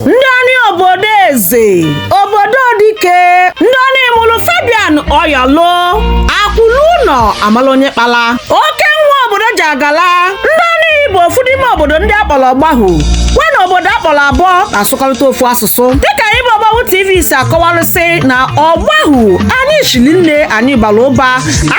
ndoni obodo eze obodo dike ndoni mụrụ fabian oyolu akwụlụ ụnọ amala onye kpala oke nwa obodo ji agala ndoni bụ ofu n'ime obodo ndị akpọrọ ọgbahụ wa na obodo akpọrọ aboh na-asụkọrịta ofu asụsụ dịka anyị bụ ọgbahụ tv si akọwarịsị na ọgbahụ anyị shiri nne anyị bara ụba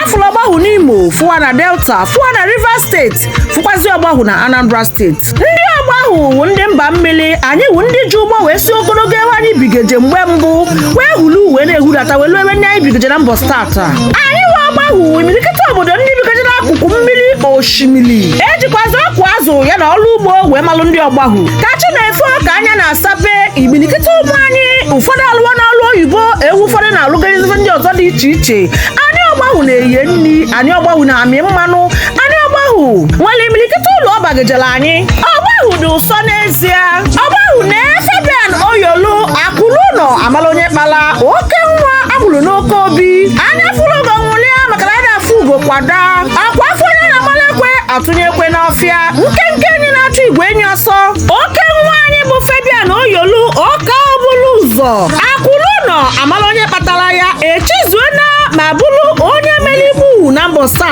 afụrụ ọgbahụ n'imo fụ wa na delta fụ wa na rivers steeti fụkwazi ọgbahụ na anambra steeti ndị ọgbahụ wụ ndị mba mmiri anyị wụ ndị ji ụgbọ wee si ogologo ebe anyị bigeje mgbe mbụ wee hulu wee na-ehudata wee luo ebe ndị anyị bigeje na mbọsị tata anyị wụ ọgbahụ wụ imirikịta obodo ndị bigeje n'akụkụ mmiri osimiri ejikwazi ọkụ azụ ya na ọrụ ugbo wee malụ ndị ọgbahụ ka chi na-efo ka anya na-asape imirikịta ụmụ anyị ụfọdụ alụwana ọrụ oyibo ebe ụfọdụ na-alụgarizi ife ndị ọzọ dị iche iche anyị ọgbahụ na-eye nri anyị ọgbahụ na-amị mmanụ Anyị ọgbahụ nwere imirikịta ulu ọ bagejela anyị. Ọgbahụ dị ụsọ n'ezie. Ọgbahụ nwe Fabian Oyolu akwụlụ ụnọ amala onye kpala oke nwa agburu n'oke obi. Anya fụrụ ugo nwụlịa maka na ada afụ ugo kwa daa. Ọ kwa afụ onye a na-amalụ ekwe atụnye ekwe n'ọfịa. Nkenke enyi na-achụ igwe enyi ọsọ. Oke nwa anyị bụ Fabian Oyolu oke ọbụlụ ụzọ. Akwụlụ ụnọ amala onye kpatara ya echizuona ma bụrụ onye mere igbu na mbọsị ta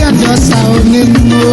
ya dị ọsa onye nnu